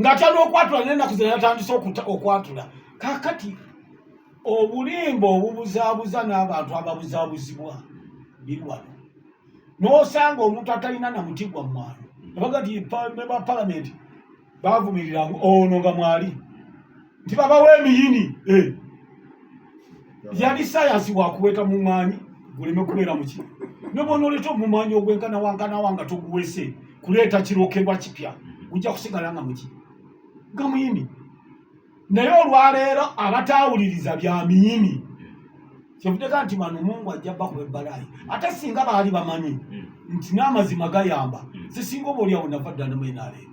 ng'akyali okwatula n'ennaku ze yatandise okwatula kaakati obulimba obubuzaabuza n'abantu ababuzaabuzibwa birwano n'osanga omuntu atalina na muti gwa mwalo abaga ti ba palamenti bavumirira ono nga mwali nti babawa emiyini eh. yali sayansi wakuweta mumwanyi guleme kubeera muki nobonoleta omumwanyi ogwenkanawankanawa nga toguwese kuleeta kirokerwa kipya gujja kusigala nga muki nga muyini naye olwaleero abataawuliriza bya miyini kyevudeka nti bano mungu ajja bakuba ebbalayi ate singa baali bamanyi hmm. nti n'amazima gayamba sisinga hmm. oba olyawo nava ddala mu nrm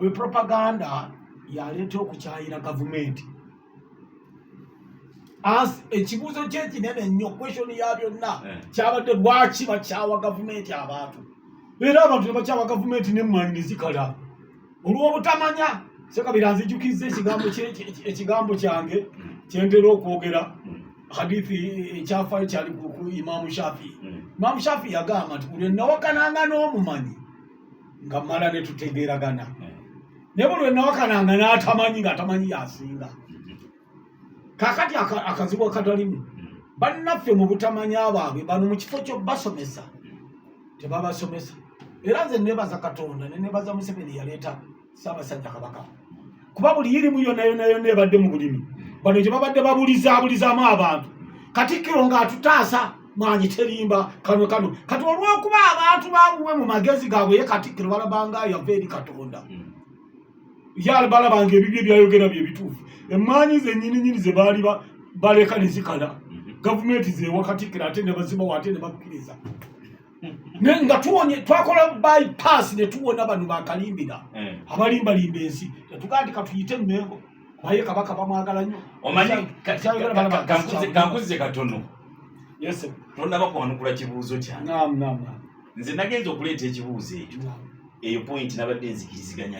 oyo propaganda yaleeta okukyayira gavumenti as ekibuuzo kyekinene nnyo question ya byonna eh. kyabadde lwaki bakyawa gavumenti abantu era abantu nebakyawa gavumenti nemmanyi nezikala olwobutamanya sekabira nzijukizza ekigambo kyange kyentera okwogera hadithi ekyafayo eh, kyali ku imamu shafi imamu mm. shafi yagamba nti buli nawakananga n'omumanyi nga mala ne tutegeeragana eh. naye buli wenawakananga n'atamanyi ng'atamanyi yasinga kakati akazibu akatalimu bannaffe mu butamanya baabwe bano mu kifo kyobasomesa tebabasomesa era nze nebaza katonda nenebaza museveni yaleeta ssaabasajja kabaka kuba buli yirimu yonayonayona ebadde mu bulimi bano gye babadde babulizaabulizaamu abantu katikkiro ng'atutaasa mwanyi terimba kano kano kati olw'okuba abantu bamuwe mu magezi gaabwe ye katikkiro balabanga yava eri katonda hmm. yalibalabanga ebibyo byayogera bye bituufu emmanyi zenyininyini ze baali baleka ne zikala hmm. gavumenti zewa katikkiro ate ne bazibawo ate ne bakkiriza naye nga tuwonye twakola bypass ne tuwona bano bakalimbira eh. abalimbalimba ensi tetugaa ti katuyite mmengo naye kabaka bamwagala nnyo omanyikankuze katono tondaba kwanukula kibuuzo kyange nze nagenza okuleeta ekibuuzo ekyo eyo point nabadde nzikiriziganya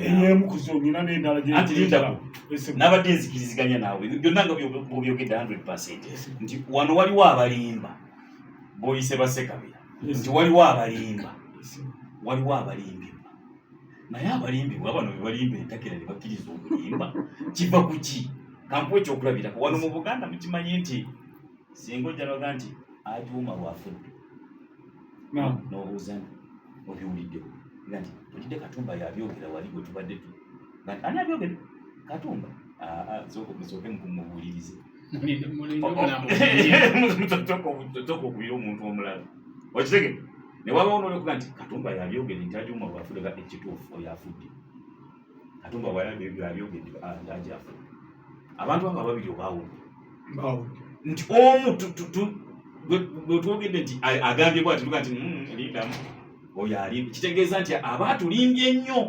nabadde nzikiriziganya naawe byonna nga byobyogedde 100 nti wano waliwo abalimba boyise basekabira nti waliwo abalimba waliwo abalimbibwa naye abalimbibwa bano bebalimba entakira nebakkiriza okulimba kiva ku ki kankuwa ekyokulabirako wano mu buganda mukimanyi nti singa ojjanoga nti atuuma lwafudde nobuuzana obiwuliddewo nga nti olidde katumba yabyogera wali gwe tubadde tu ani abyogere katumba ah, ah, zooke mubuulirize okubira omuntu omulala okitege newabawo nolekuga nti katumba yabyogere nti ajuma bwafudega ekituufu oyo afudde katumba bwayabyogere nti aja ah, afudde abantu abo ababiri obawudde nti omu bwetwogedde nti agambye bwati tuga nti hmm, lindamu oyo alimbi kitegeeza nti aba atulimbye nnyo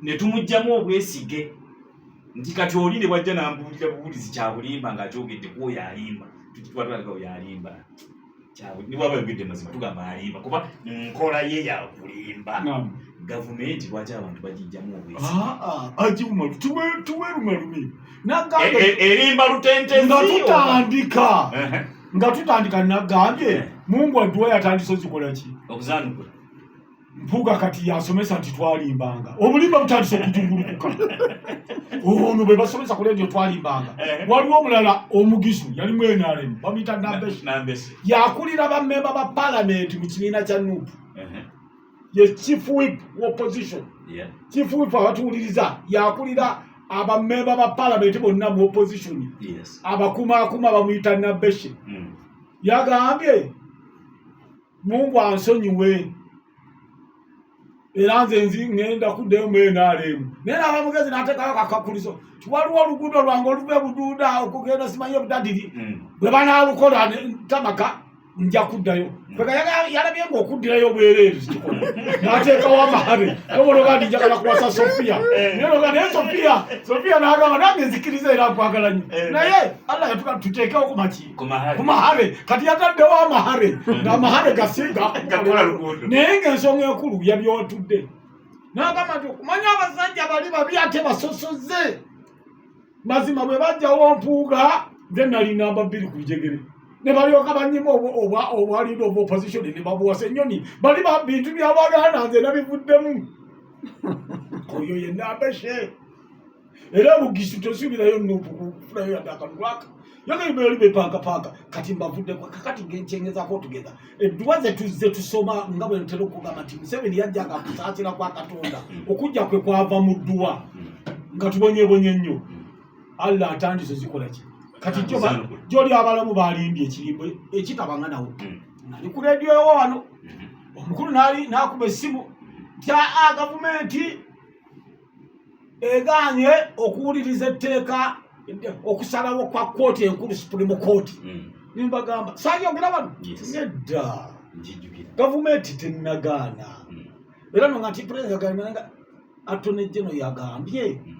netumugjamu obwesige nti kati oli ne bwajja nambuulira buwulizi kyabulimba ng'akyogedde ku oyo alimba tubatwalika oyo alimba niwaba yogedde mazima tugamba alimba kuba nkola ye yakulimba gavumenti lwaki abantu bagijjamu obwesiagiwumalutuwerumalumi ah, ah, e, e, erimba lutentenga tutandika nga tutandika nagambye eh. mungu aduwa yatandisa ozikolaki okuzanukula mpuga kati yasomesa nti twalimbanga obulimba butandise okujungulukuka ono bwe basomesa ku leediyo twalimbanga eh. waliwo omulala omugisu yali mwenarem bamuyita nambesi yakulira bamemba ba palamenti mu kibiina kya nup eh. ye chief whip opposition chief whip abatuwuliriza yakulira abamemba ba palamenti bonna mu opposition abakumaakuma bamuyita nambesi hmm. yagambye Mungu ansonyiwe era nze nzi ŋenda kuddayo mu nrm naye naaba mugezi nateekawo kakakulizo ti waliwo oluguudo lwange oluva ebuduuda okugenda simanyi ebudadiri hmm. bwe banaalukola tamaka nja kuddayo hmm. yalabye nga okuddirayo obwereere kikola nateekawo amahabe nobologa ndi njagala kuwasa sofiya eh. naloga naye sofiya sofiya nagamba nange nzikiriza era nkwagala nyo eh. naye allah yatuka tuteekewo ku maki kumahare kati yataddewo amahare hmm. ngaamahare gasiga naye ngaensonga enkulu yabyotudde nagamba nti okumanya abasajja bali babi ate basosoze mazima bwe bajjawo mpuuga nze nali namba bbiri ku jegere ne balyoka banyima obwaliida oba opposition ne babuwasa ennyoni bali bintu byabaganda nze nabivuddemu oyo yenna abeshe era bugisu tosuubirayo nuupu kufulayo yadde akalulwaka yogaibeoli bepaakapaaka kati mbavuddeko kakati ngekyengezako tugeza edduwa zetuzze tusoma nga bwentera okugamba nti museveni yajjanga kusaasira kwa katonda okujja kwe kwava mu dduwa nga tubonyebonye nnyo allah atandise zikola ki kati gyoli abalamu balimbye ekirimbo ekitabanga nawo hmm. nali ku rediyo ewo wano hmm. omukulu nakuba essimu tya ah, gavumenti egaanye okuwuliriza etteeka okusalawo kwa kooti enkulu supreme kooti hmm. nembagamba sayogera bano nedda gavumenti tenagaana hmm. era nonga nti pulezidenti atone geno yagambye hmm.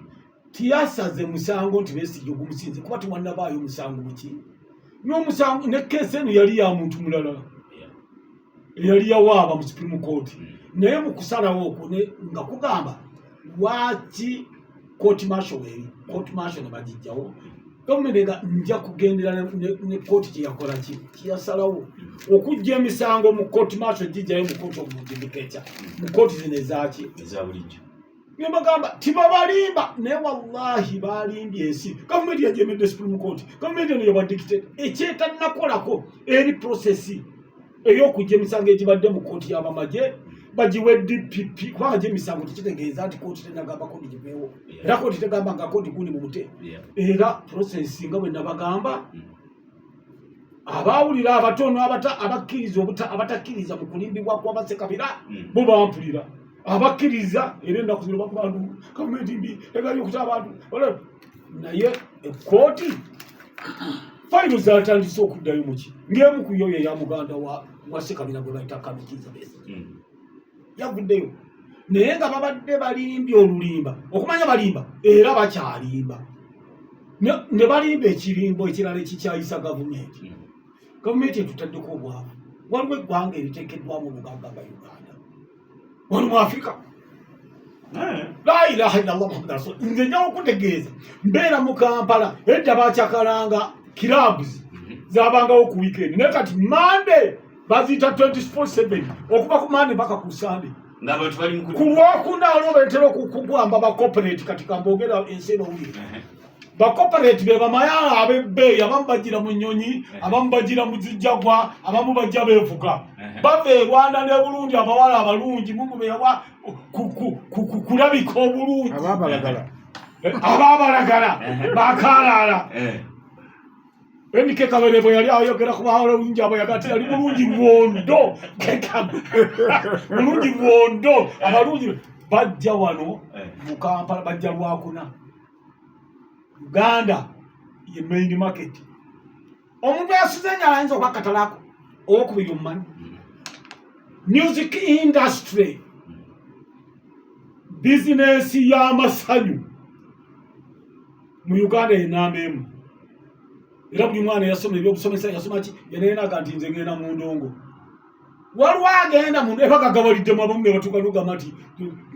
tiyasaze musango nti besigye ogumusinze kuba tiwanabaayo musango muki nomusango ne keesi eno yali ya muntu mulala eyali yawaaba mu supreme court hmm. naye mu kusalawo okwo nga kugamba lwaki court martial weeri court martial ne bagijjawo gavumenti nga nja kugendera ne kooti kyeyakola ki kyeyasalawo okujja emisango mu kooti maaso gijjayo mu kooti omudimikeca mu kooti zino ezaaki ezabulijjo nebagamba tibabalimba naye wallahi balimbye ensi gavumenti yajemedde supreme court gavumenti eno yabadikite ekyetanakolako eri prosesi eyokujja emisango egibadde mu kooti yabamagye bagiwe dpp kubanga gye emisango tekitegeeza nti kooti tenagamba kodi giveewo era kooti tegamba nga kodi gundi mu bute era prosesi nga bwe nabagamba mm. abaawulira abatono abakkiriza abatakkiriza mu kulimbibwa kwabasekabira hmm. bo bampulira abakkiriza era ennaku zino bakuba ndu gavumenti mbi egali okuta abantu naye ekkooti fayiro zatandise okuddayo muki ng'emu ku yoyo eya muganda wa sekabira gwe bayita kamikiza besi hmm. yavuddeyo naye nga babadde balimbye olulimba okumanya balimba era bakyalimba ne balimba ekirimbo ekirala ekikyayisa gavumenti hmm. gavumenti etutaddeko obwavu waliwo eggwanga eriteekeddwamu obugagga ga uganda wali mu afirika eh. lailaha illallah muhammad rasul nze njawo okutegeeza mbeera mu kampala edda bakyakalanga kirabs hmm. zabangawo ku wikendi naye kati mande baziyita 24/7 okuva ku mande mpaka ku sande ku lwokuna olwo betera okukugwamba bacoperate kati kamboogera ensi eno wuli bacoperate be bamayala abebbeeyi abamu bajira mu nnyonyi abamu bajira mu zijjagwa abamu bajja beevuga bava e rwanda ne bulungi abawala abalungi mumubeewa kulabika obulungi ababalagala eh, bakaalaala eh. NK Kabere bwe yali ayogera ku baawole obungi abo yagate yali mulungi bwondo mulungi bwondo abalungi bajja wano eh. mu Kampala bajja lwakuna Uganda ye main market omuntu yasuze nga ayinza okuba katalako owokubiri omumanyi music industry bizinesi y'amasanyu mu uganda eyo namba emu era buli mwana yasoma ebyokusomesa yasoma ki yanayenaga nti nze ngenda mu ndongo waliwo agenda mu era gagabaliddemu abamu ne batuuka nogamba nti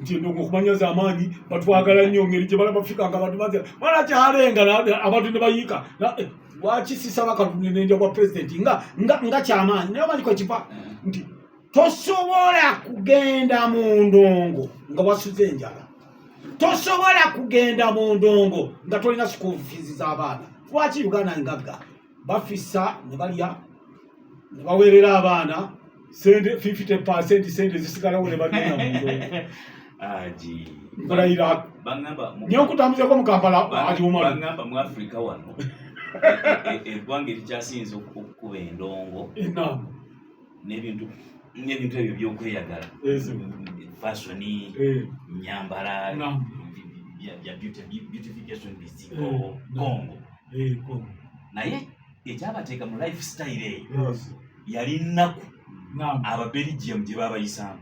nti endongo okumanya za amaanyi batwagala nnyo ngeri gye bala bafika nga bantu bazi mwana kyalenga abantu ne bayiika eh, lwaki sisaba katunenenja bwa pulezidenti nga kyamaanyi naye omanyi kwekiva nti tosobola kugenda mu ndongo nga wasuze enjala tosobola kugenda mu ndongo nga tolina school fees z'abaana lwaki uganda ngagga bafisa ne balya ne baweerera abaana sente 50 percent sente zisigalawo ne bagenda mu ndongo nkolayira nyo nkutambuzeko mu kampala aliwumagamba mu africa wano eggwanga erikyasinza okukuba endongo n'ebintu n'ebintu ebyo byokweyagala fasoni nyambala ya beautification bizigo kongo naye ekyabateeka mu life style eyo yali nnaku ababelgium gye babayisaamu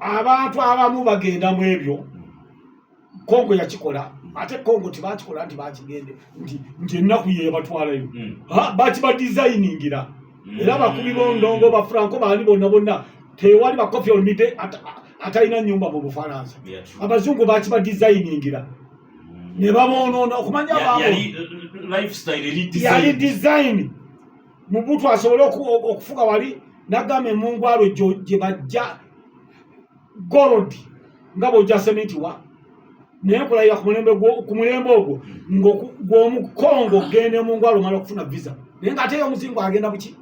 abantu abamu bagenda mu ebyo kongo yakikola ate kongo tebakikola nti bakigende nti nti ennaku yebatwalayo hmm. bakiba designingira hmm. era bakubi bondongo bafranco baani bonna bonna tewali bakofi olmide atalina nyumba mu bufalansa abazungu bakiba designingira hmm. ne babonoona okumanya baabo uh, uh, uh, yali design mubutu asobole okufuga wali nagamba emungwalo gye bajja gold nga bwojja sementi wa naye nkulayira ku mulembe ogwo ngogwomukongo ogenda emungwalo omala okufuna visa naye nga ateyo omuzingo agenda buki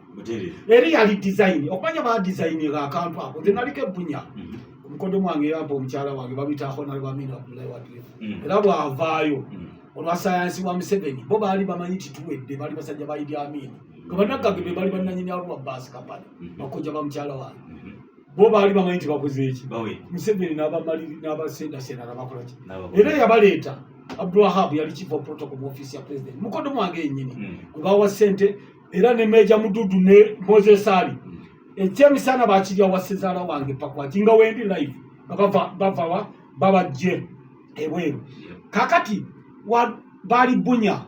eri yali design okumanya ba design nga akantu ako nze naliko ebbunya mhm. omukodo mwange yampa omukyala wange babitaako nalibamina abdulayi wadire mhm. era bwavaayo mhm. olwasayansi wa museveni bo baali bamanyi tituwedde baali basajja ba idi amin nga banaggage be baali bananyini abo babbaasi kapani mm-hmm. bakojja ba mukyala wange mm-hmm. bo baali bamanyi tibakoze eki museveni n'abamaliri n'abasendasenda nabakola ki era yabaleeta abdulwahab yali chief of protocol mu offiisi ya president mukodo mwange yenyini mm. gwebawa sente era ne meja mududu ne moses ali mm. ekyemisana bakirya wasezaala wange pakwati nga wendi live nga bavawa babajje ebweru kakati baali bunya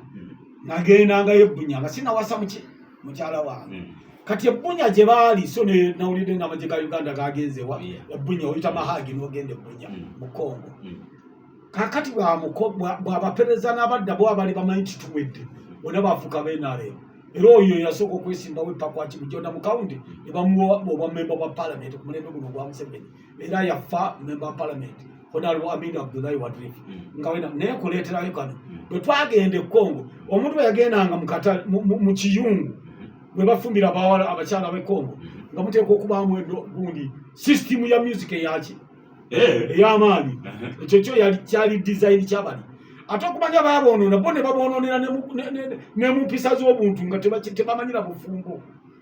nagendanga yebunya nga sinawasa mukyala wange hmm. kati ebunya gye baali so nawulidde nga amagye ga uganda gagenzewa ebunya oyita mahagi nogenda ebunya hmm. mu congo hmm. kakati bwabapereza n'abadda bo abali bamanyi tituwedde bona bafuuka benaremu era oyo yasooka okwesimbawo epakwakimujona mu kawundi ne bamuwa obwamemba bwa palamenti ku mulembe guno ogwa museveni era yafa member parliament honorable Amin Abdullahi Wadrif mm. nga wena naye kuleeterayo kano mm. bwe twagenda e Congo omuntu bwe yagendanga mu kiyungu mm-hmm. bwe bafumbira abawala abakyala b'e Congo mm-hmm. nga muteekwa okubaamu gundi sisitimu ya music eyaki eh. ey'amaanyi uh-huh. ekyo kyo kyali dizayini kyabali ate okumanya baaboonoona bo ne baboonoonera ne mu mpisa z'obuntu nga tebamanyira bufumbo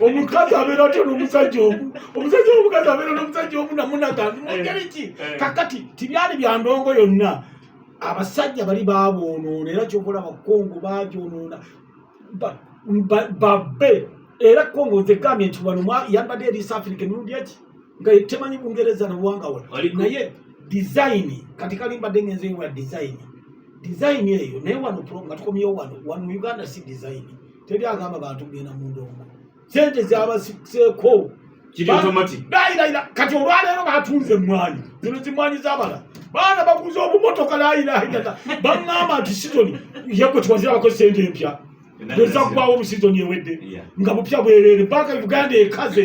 omukazi abeera atya nomusajja omu omusajja omukazi abeera nomusajja omu namunagandi mungeri ki eh. kakati tibyali bya ndongo yonna abasajja bali baboonoona era kyokola bakongo bagyonoona babbe era kongo nze gambye nti wano yambadde eri east africa emirundi eki nga temanyi bungereza nabuwanga wa naye dizayini kati kalimbadde ngenze ewa dizayini dizayini eyo naye wano nga tukomyewo wano wano uganda si dizayini teri agamba bantu kugenda mu ndongo sente zabasiseeko layilayira kati olwaleero batunze emmwanyi zino zimwanyi zabala baana baguza obumotoka layilayirata baŋŋamba nti sizoni yekwe tiwazirabako sente empya ezaggwawo mu sizoni ewedde nga bupya bwerere banka uganda ekaze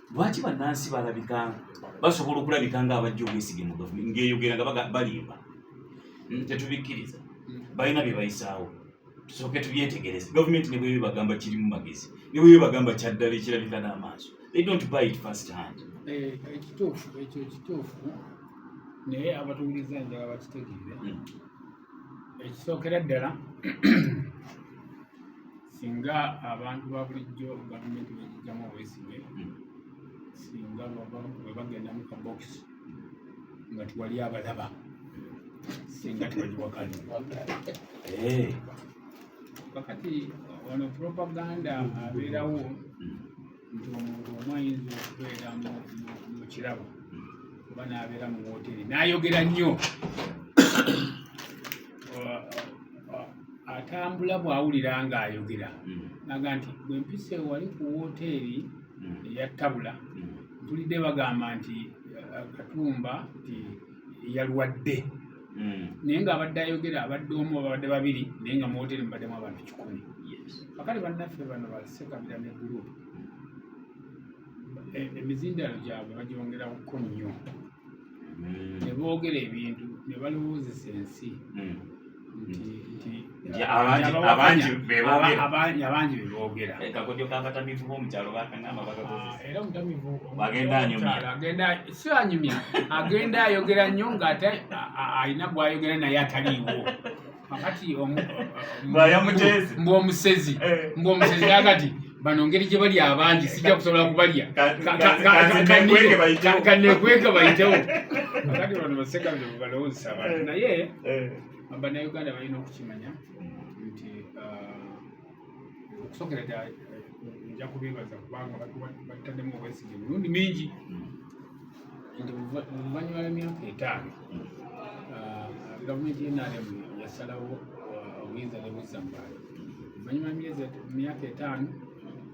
lwaki bannansi balabika basobola okulabika nga abajja obwesige mu gavumenti ng'eyogera nga balimba hmm, tetubikkiriza balina bye bayisaawo tusooke tubyetegereze gavumenti ne bweyo bagamba kirimu magezi ne bweyo bagamba kyaddala ekirabika n'amaaso they don't buy it first hand eh, ekituufu ekyo ekituufu naye abatuwuliza njala bakitegeere hmm. ekisookera ddala singa abantu ba bulijjo gavumenti bejijjamu obwesige singa webagenda mu kabokisi nga tiwali abalaba singa tiwali wakali eh. kakati ono propaganda abeerawo nti omuntu omu ayinza okubeera mu kirabo oba n'abeera mu wooteeri n'ayogera nnyo atambula bw'awulira ng'ayogera hmm. naga nti bwe mpisa ewali ku wooteeri hmm. eya tabula hmm. ntulidde bagamba nti eh, katumba nti yalwadde hmm. naye nga abadde ayogera abadde omu ababadde babiri naye nga muwoteri mubaddemu abantu kikumi bakali bannaffe bano basekabira ne gurupu e, emizindalo gyabwe bagyongerako nnyo hmm. ne boogera ebintu ne balowoozesa ensi hmm. abangi bebogera kakodyo kabatamivu bomukyalo bakangamba bagenda anyumyagenda si anyumya agenda ayogera nnyo ngaate alina gwayogera naye ataliiwo kakati mbu omusezi mbu omusezi akati bano ngeri gye bali abangi sijja kusobola kubalya kanekweke bayitewo kati bano baseka bino balowozesa abantu eh. naye eh. banauganda balina okukimanya nti uh, okusokera ddala eh, nja kubebaza kubanga batademu obwesige mirundi mingi nti oluvannyuma lw'emyaka etaano ah, gavumenti yenrm yasalawo ah, obuyinza nebuzza mu bantu oluvannyuma myaka etaano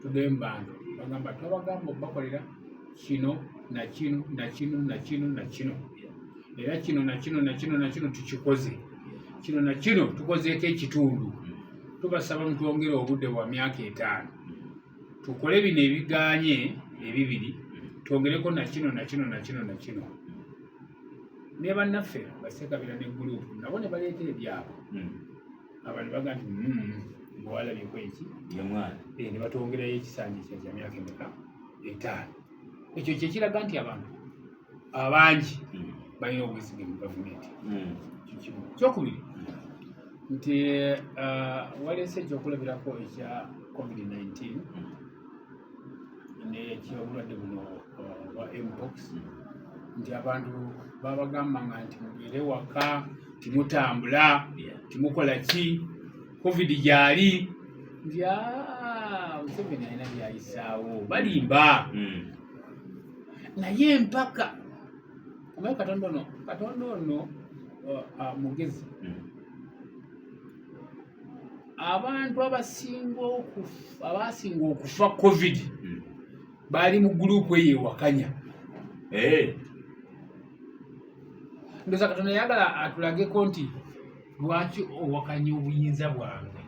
tudemu bantu bagamba twabagamba okubakolera kino nakino nakino nakino nakino era kino nakino nakino nakino tukikoze kino nakino tukozeeko ekitundu tubasaba mutwongere obudde bwa myaka etaano tukole bino ebiganye ebibiri twongereko nakino nakino nakino nakino ne bannaffe basekabira ne gulupu nabo ne baleeta ebyabo hmm. abantu baga nti hmm, bwewalabyeko eki eh, ne batwongerayo ekisanja kya kya myaka emeka etaano ekyo kyekiraga nti abantu abangi hmm. balina obwesige mu gavumenti hmm. kikimu kyokubiri nti uh, waleese ekyokulabirako ekya covid-19 nekyobulwadde buno uh, bwa mpox nti abantu babagamba nga nti mubeere waka timutambula timukola ki covid gyali nti ah, museveni alina byayisaawo balimba hmm. naye empaka omaye katonda ono katonda ono uh, uh, mugezi hmm. abantu abasinga okufa abasinga okufa covid hmm. baali mu gurupu eyo ewakanya eh. ndoza katonda yagala atulageko nti lwaki owakanya obuyinza bwange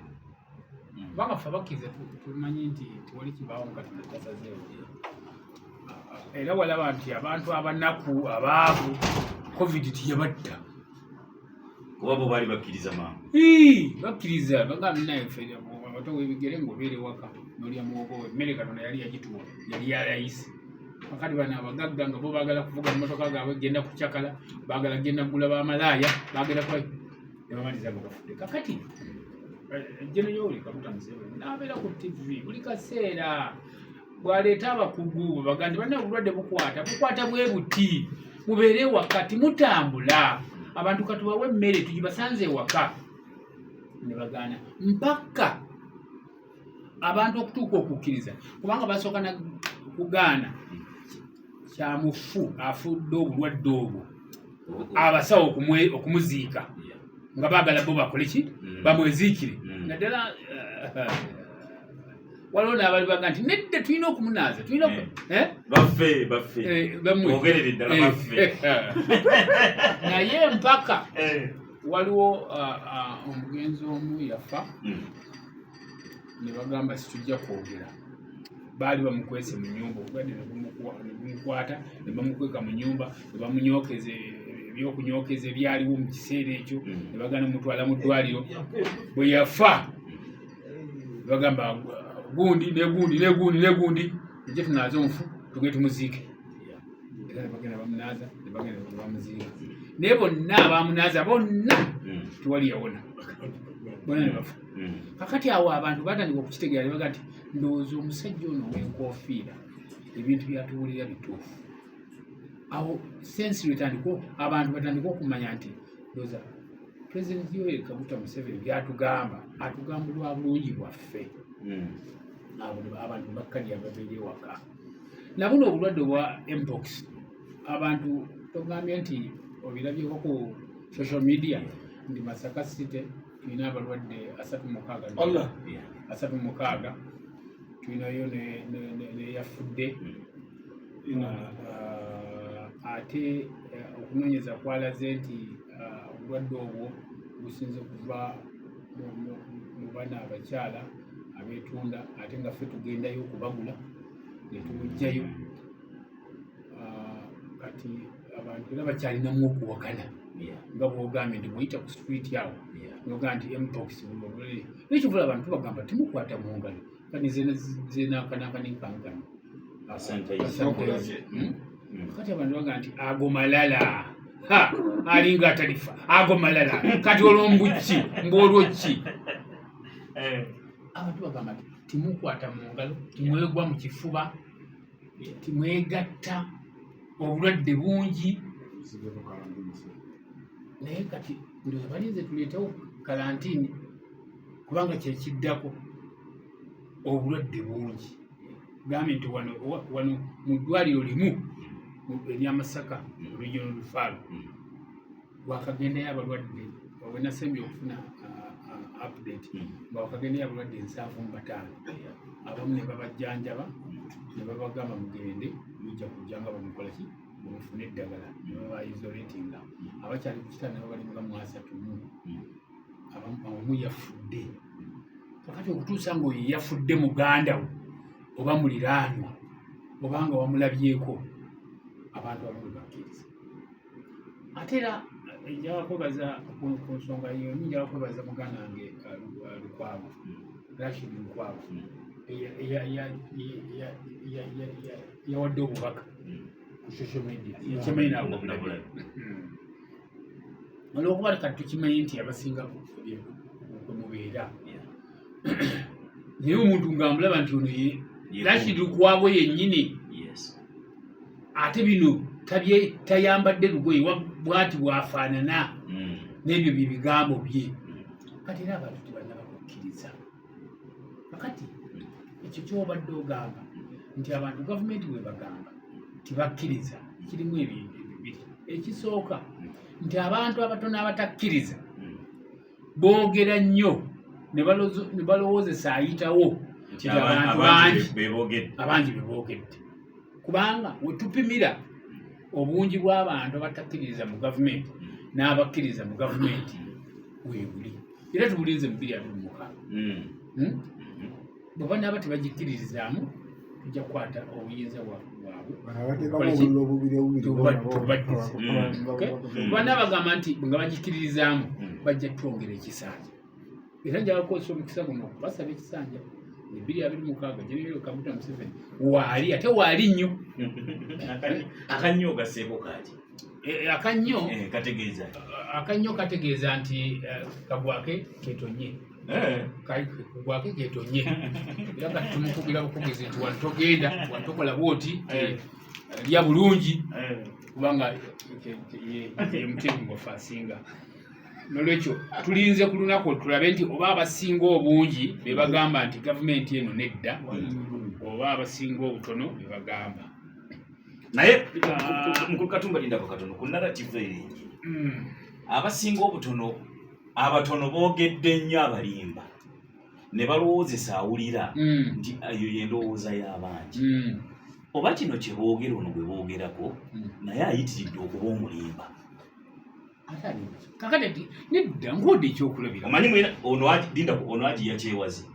kubanga ffe abakkiriza tumanyi nti tewali kibaawo nga tunatasazeewo era walaba nti abantu abanaku abaavu covid tiyabatta kuba bo baali bakkiriza maama bakkiriza bagamba naye ffe abato webigere ngaobeere waka nolya muwogo we emmere katonda yali yagituwa yali yalayisi kakati bano abagagga nga bo baagala kuvuga mumotoka gaabwe genda kucakala baagala genda kugula bamalaaya baagala yabamaliza nga bafudde kakati jenayoli eh, kabuta museveni nabeera ku tv buli kaseera bwaleeta abakugu bebagandi banna obulwadde bukwata bukwata bwe buti mubeere wakati mutambula abantu katubawe emmere tugibasanze ewaka nebagaana mpaka abantu okutuuka okukkiriza kubanga basooka kugaana kyamufu afudde obulwadde obwo abasawo okumuziika nga baagala bo bakole ki mm. bamweziikire mm. naddala eh, waliwo naabali baga nti nedde tulina okumunaaza tulina eh. eh? baffe baffe ogerere ddala baffe naye mpaka waliwo ah, ah, omugenzi omu yafa mm. ne bagamba situjja kwogera baali bamukwese mu nyumba obulwadde nebumukwata ne bamukweka mu nyumba ne bamunyokeza ebyokunyokeza ebyaliwo mu kiseera ekyo mm. ne bagana mutwala mu ddwaliro bwe yafa bagamba gundi negundi negundi negundi eje tunaaze omufu tuge tumuziike era nebagenda bamunaaza nebagenda bamuziika naye bonna abamunaaza bonna mm. tewali yawona bona nebafuka hmm. kakati awo abantu batandika okukitegeera nebaga nti ndowooza omusajja ono wenkofiira ebintu byatuwulira bituufu awo sensi lwetandika abantu batandika okumanya nti ndowooza pulezidenti yoeri kaguta museveni byatugamba atugamba lwa bulungi bwaffe hmm. abantu bakkalya babeera ewaka nabuno obulwadde obwa mpox abantu togambye nti obilabyeko ku social media ndi masaka city tulina abalwadde asatu mukaaga allah asatu mukaaga tulinayo neyafudde hmm. ah, ah, ate eh, okunoonyeza kwalaze nti ah, obulwadde obwo businza okuva mu bana abakyala abetunda ate nga ffe tugendayo okubagula netubujjayo kati abantu era bakyalinamu okuwakana nga bwogambye nti buyita ku street awo noga nti mpox nekivula abantu bagamba timukwata mu ngalo kani zenakanakanenkankano hmm? hmm. kati abantu bagamba nti ago malala alinga atalifa ago malala kati olwombuki mbaolwoki eh. abantu bagamba nti timukwata mu ngalo timwegwa mu kifuba timwegatta obulwadde bungi naye kati ndoza balinze tuleetewo kalantini kubanga kyekiddako obulwadde bungi gambye nti wano wano mu ddwaliro limu eryamasaka olujja nolufaalo wakagendayo abalwadde wenasembye okufuna uh, update hmm. nga wakagendayo abalwadde ensanvu mu bataano abamu ne babajjanjaba ne babagamba mugende mujja kujja nga bamukolaki mufune eddagala ne babaisolatinga abakyali ku kitanda nabo bali nga mwasatu mu abamu yafudde kakati okutuusa ngaoyo yafudde muganda wo oba muliraanwa obanga wamulabyeko abantu abamu bebakkiriza ate era njala kwebaza ku nsonga yo njala kwebaza muganda wange lukwago rashid lukwago yawadde obubaka ku social media ekimanyi nabulabula olwokuba leka tukimanyi nti abasinga kwemubeera naye omuntu ngaamulaba nti ono rashid lukwago yennyini ate bino tabye tayambadde lugoye bwati bwafaanana mm. n'ebyo bye bigambo bye mm. kati era abantu tebanaba kukkiriza kakati mm. ekyo kyobadde ogamba nti abantu gavumenti bwebagamba tibakkiriza kirimu ebintu bibiri ekisooka nti abantu abatono abatakkiriza boogera nnyo ne balowoozesa ayitawo nti abantu bangi abangi be boogedde kubanga wetupimira obungi bw'abantu abatakkiririza mu gavumenti n'abakkiriza mu gavumenti weebuli era tubulinze mu biri abiri mukaaga hmm. hmm? bwe banaaba tebagikkiririzaamu tujja kukwata obuyinza bwabwebana bagamba nti nga bagikkiririzaamu hmm. bajja twongera ekisanja era njala kukozesa omukisa guno basaba ekisanja ebiri abiri mukaaga general kaguta museveni waali ate waali nnyo akannyo ogaseeko kaaki eh, eh, akannyo eh, kategeeza akannyo kategeeza nti kagwake ketonye eh. gwako egetonye era nga tumukugira bukugizi nti wano togenda wano tokola bwoti eh. lya bulungi eh. kubanga yemutemu gwafe asinga nolwekyo tulinze ku lunaku tulabe nti oba abasinga obungi bebagamba nti gavumenti eno nedda oba abasinga obutono bebagamba naye mukulu katumba lindako katono ku narrative eri hmm. abasinga obutono abatono boogedde nnyo abalimba ne balowoozesa awulira mm. nti eyo yendowooza y'abangi mm. oba kino kye boogera ono bwe boogerako mm. naye ayitiridde okuba omulimba kakati nedda ng'odde ekyokulabira omanyi mwena ono agiya kyewazi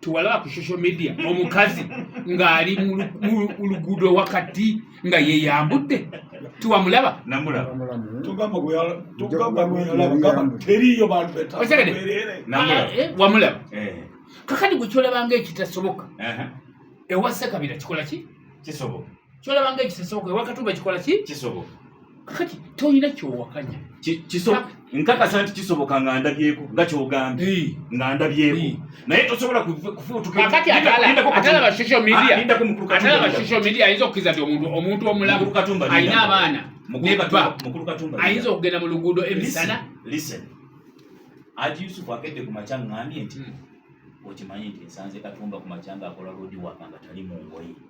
tuwalaba ku social media omukazi ng'ali mu luguudo wakati nga yeyambudde tiwamulaba wamulaba kakati gwe kyolabanga ekitasoboka ewa sekabira kikola ki kisoboka kyolaba nga ekisesooka ewakatumba kikola ki kisoboka kakati tolina kyowakanya nkakasa nti kisoboka nga ndabyeko nga kyogambye nga ndabyeko naye tosobola kufuutukatalaba social media ah, ayinza okukiriza nti omuntu omuntu omulamu alina abaana nebba ayinza okugenda mu luguudo emisana aji yusufu akedde ku makya ngambye nti hmm. okimanyi nti nsanze katumba ku makya nga akola lodi waka nga tali mu ngoye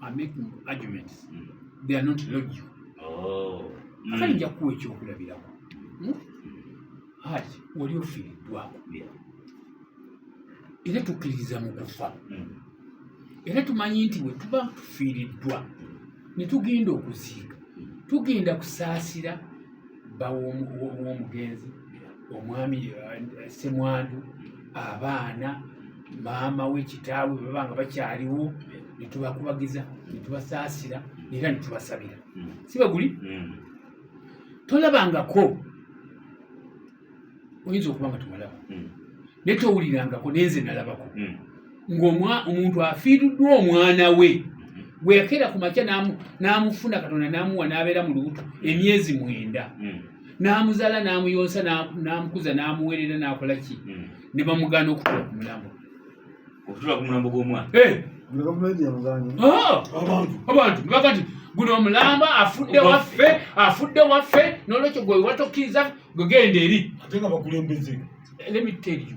are making arguments mm. they are not logical oh. mm. kale nja kuwa ekyokulabirako hmm? haji wali ofiiriddwako era tukkiririza mu kufa hmm. era tumanyi nti bwe tuba tufiiriddwa ne tugenda okuziika tugenda kusaasira baw'omugenzi omwami eh, semwandu abaana maama we kitaawe baba nga bakyaliwo netubakubagiza netubasaasira era netubasabira hmm. sibaguli hmm. tolabangako oyinza okuba nga tumalaba hmm. naye towulirangako nenze nalabako ng'omuntu afiiriddwa omwana we gwe yakeera ku makya n'amufuna katonda n'amuwa n'abeera mu lubuto emyezi mwenda hmm. n'amuzaala n'amuyonsa n'amukuza n'amuweerera n'akola ki hmm. ne bamugaana okutula ku mulambo okutula ku mulambo gw'omwana eh! ah! abantu nebaga nti guno omulamba afudde waffe afudde waffe n'olwekyo gwe watokiriza gwegenda eri ate nga bakulembeze let me tell you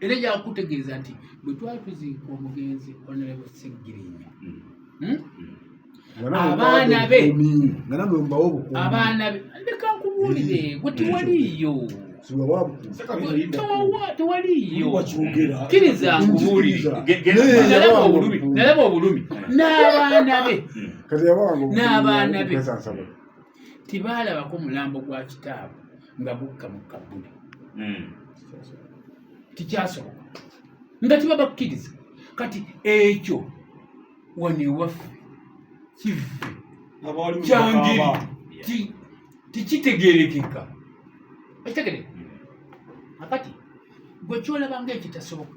era yakutegeeza nti bwe twali tuziika omugenzi onalebo seggirinya hmm. Hmm? Hmm. abaana be abaana be leka nkubuulire gwe tewaliiyo tewaliiyokiriza nkubuulirenalaba obulumi nalaba obulumi n'abaana be n'abaana be tebaalabako mulambo gwa kitaabwe nga gukka mu kabbuli hmm. tikyasoboka nga kiba bakkiriza kati ekyo wano ewaffe kivve kyangeri tekitegerekeka ekitegere hmm. akati gwe kyolabanga ekitasoboka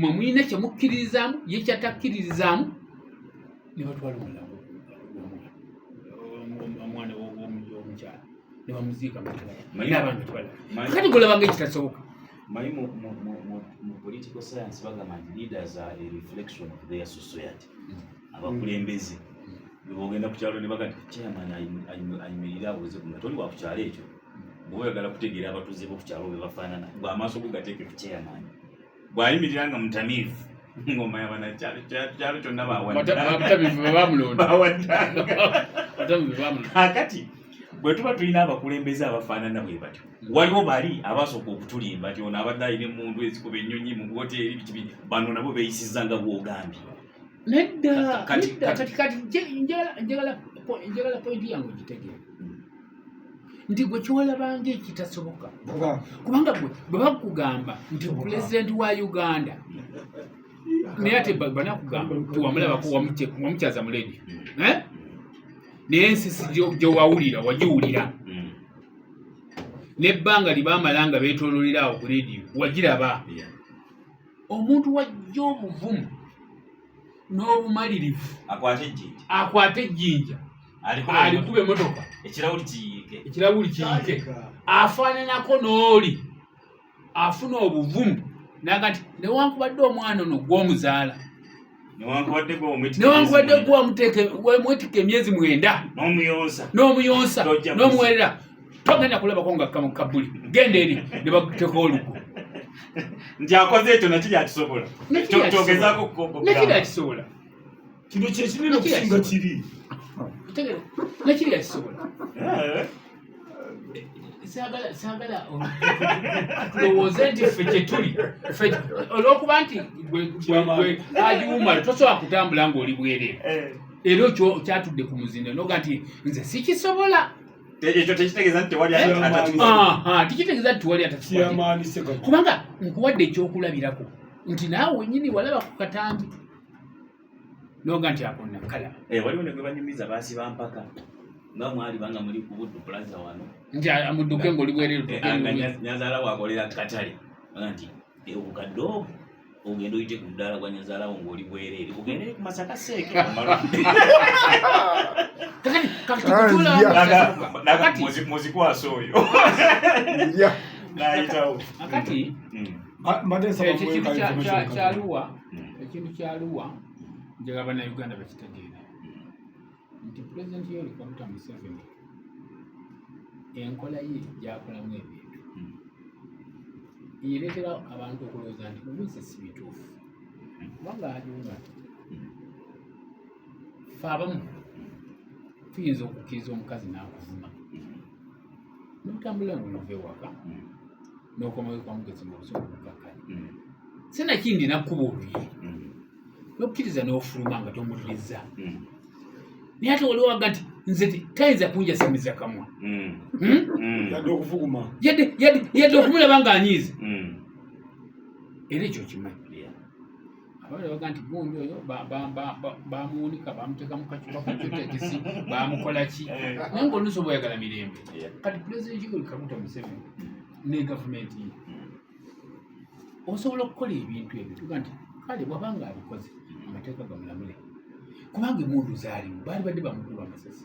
mwe mulina kye mukkiririzaamu ye kyatakkiririzaamu ne batwala omulago omwana womukyala ne bamuziika mukati golaba nga ekitasoboka manyi mu political science bagamba nti leaders are a reflection of their society mm. abakulembeze bwebogenda ku kyalo ne baga nti chairman ayimirire abuuze ku toli wa ku kyalo ekyo bwoyagala kutegeera abatuuze bo ku kyalo bwe bafaanana gwe amaaso go gateeke ku chairman bwayimirira nga mutamiivu ngoma yabanakyalo kyonna bawaddeakati bwe tuba tulina abakulembeze abafaanana bwe batyo hmm. waliwo bali abasooka okutulimba ti ono abadde alina emundu ezikuba ennyonyi mu woteeri bikibi bano nabo beeyisiza nga bwogambye nedda kati kati njagala pointi yange ogitegeera nti gwe kyolabanga ekitasoboka kubanga gwe bwe bakugamba nti pulezidenti wa uganda naye ate banakugamba nti wamulabako wamukyaza mu ledi eh? naye ensisi gyewawulira wagiwulira hmm. nebbanga libamala nga betololera awo ku lediyo wagiraba omuntu wajja obuvumu n'obumalirivu akwate ejjinja alikuba emotoka ekirabuli kiyike ekirabuli kiyike afaananako n'oli afuna obuvumu nagati newankubadde omwana ono gw'omuzaala newankubadde gwamwetika emyezi mwenda n'omuyonsa n'omuyonsa n'omuwerera togenda kulabako nga kamu kabuli genda eri ne bakuteka olugo nti akoze ekyo nakiri akisobola kyogezaako kukokokira nakiri akisobola kino kyekinene okusinga kiri nekiriyakisobola eh. saagala tulowooze nti ffe kyetuli olwokuba nti agiwumala tosobola kutambula ngaoli bwere eh. era okyo kyatudde ku muzindo noga nti nze sikisobola ekyo tekitegeeza nti tewali eh? tekitegeeza nti tewali atakikubanga nkuwadde ekyokulabirako nti naawe wenyini walaba ku katambi noga nti akonna kala eh, waliwo ne gwe banyumiza basiba mpaka nga mwali banga muli ku buddu plaza wano nti amudduke ng'oli bwereru eh, ah, nyazaala wakolera katale aga nti eh, obukadde obwo ogenda oyite ku mudaala gwa nyazaalawo ng'oli bwereere ogendere ku masaka seeke muzikwasa oyo nayitawo kati hmm. mbadde nsaba kyaluwa ekintu kyaluwa njagala bannayuganda bakitegeere nti pulezidenti yolikomuta museveni enkola ye gyakolamu ebintu hmm. yereetera abantu okulowooza nti mubize si bituufu kubanga ajuga hmm. fe abamu tuyinza okukkiriza omukazi n'akuvuma hmm. notambula nonova ewaka nokomayo kwamugezi nga obusungu bukakkanya sinakindi nakkuba oluyi nokkiriza nofuluma nga tomulirizza naye ate waliwo aga nti nze tayinza kunjasamiza kamwa yadde okufuguma yadde okumulaba nga anyiiza era ekyo kimanyi abawala baga nti gundi oyo bamuwunika bamuteeka mukacupa kacutekisi bamukola ki eh. naye nga oluusi oba oyagala mirembe kati pulezidenti yoweri kaguta museveni hmm. ne gavumenti ye hmm. osobola okukola ebintu ebyo tuga nti kale bwaba nga abikoze amateeka gamulamule kubanga emundu zaalimu baali badde bamukulu amasasi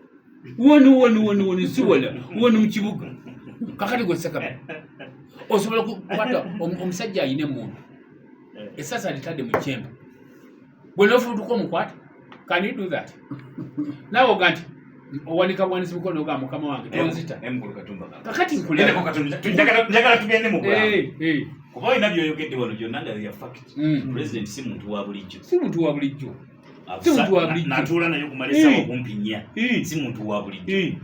woni woni woni woni siwala woni mukibuga kakati gwesakaba osobola kukwata omusajja ayina emundu esasa litadde mukyemba bwenofutuka omukwata can you do that nawe oga nti owanika bwanisi mukono oga mukama wange tonzita kakati nkuleanjagala tugende mu kuba olina byoyogedde wano gyonna nga ya fact mm. president si muntu wa bulijjo si muntu wa bulijjo natuula naye okumala esawa okumpi nnya si muntu wa bulijjo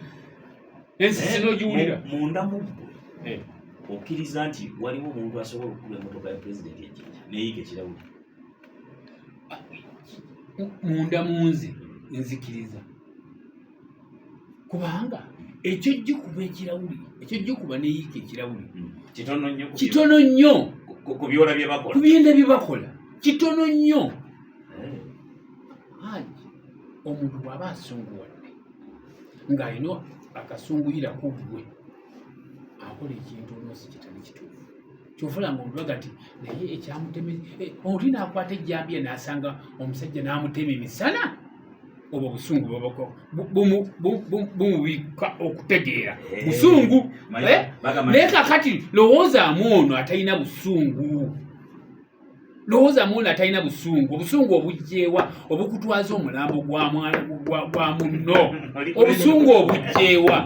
ensi sinogiwulira munda mubbo okkiriza nti waliwo omuntu asobola okukuba emotoka ya pulezidenti ejinja neyiga ekirawuli munda munze nzikiriza kubanga ekyojja okuba ekirawuli ekyojja okuba neyiika ekirawuli hmm. kitono nnyo ku byenda bye bakola kitono nnyo eh. aji omuntu bw'aba asunguwadde ng'alina akasunguyira ku ggwe akola ekintu oluusi kitali kituufu kyovula nga omulaga nti naye ekyamuteme eh, oli naakwata ejjambiya n'asanga omusajja n'amutema emisana obwo busungu bumubikka okutegeera eh, busungu eh? naye kakati lowoozaamu ono atalina busungu lowoozaamu ono atalina busungu obusungu obugyewa obukutwaza omulambo gwa munno obusungu obugyewa